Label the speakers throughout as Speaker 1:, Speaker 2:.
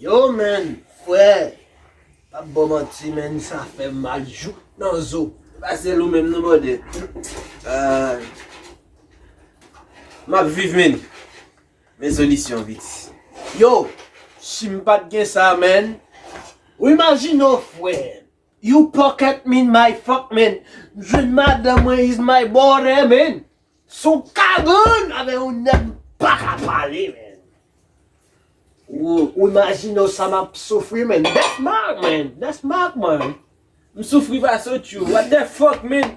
Speaker 1: Yo menn frè pap bon manti menn sa fè mal jouk nan zo. Se pa sèl ou menm non
Speaker 2: bròdè. Map viv menn men solisyon vit. Yo
Speaker 1: sim pat gen sa menn. Ou imajine w frè. You pocket min my fuck man. M jwenn madanm mwen is my body man. Son kabann avè yon nèg m paka pale man. Ou imajine w sa map soufri man. That's marc man. That's marc man. M soufri
Speaker 2: pase w tjou. What the fuck man.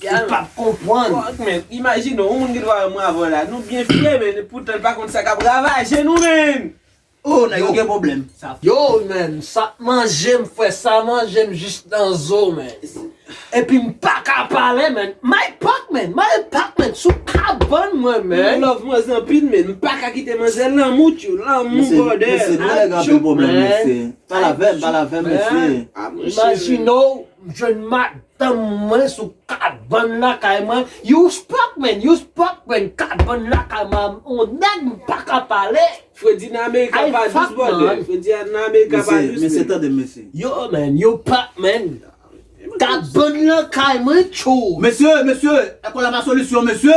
Speaker 1: Ou pap konpwann. Fuck man, imajine
Speaker 2: yon moun ki t vwa yon moun avan w la, nou byen file men e poutan l pa konn sa kap ravaje nou menn! Oh nèg yo gen
Speaker 3: pwoblèm. Yo menn
Speaker 1: sa t manje m frè sa manje m jis nan zo menn epi m paka pale menn Mike Pac menn Mike Pac menn sou kabann mwen menn. M love manzè anpil men
Speaker 2: m paka kite manzè lanmou tjou lanmou brother. Mesye nou nèg anpil
Speaker 3: pwoblèm mesye. Pale avè m pale avè m mesye. Imajine w
Speaker 1: jwenn Mike Tanm mwen sou 4 bann lakay mwen you spak men you spak men 4 bann lakay mwen on nèg m paka pale. Fredi nan amerika
Speaker 2: pa dous brother fredi nan amerika pa dous mesye tande mesye.
Speaker 3: Yo men yo
Speaker 1: pak men 4 bann lakay mwen tjou. Mesye mesye
Speaker 3: èkòl la pa solisyon mesye.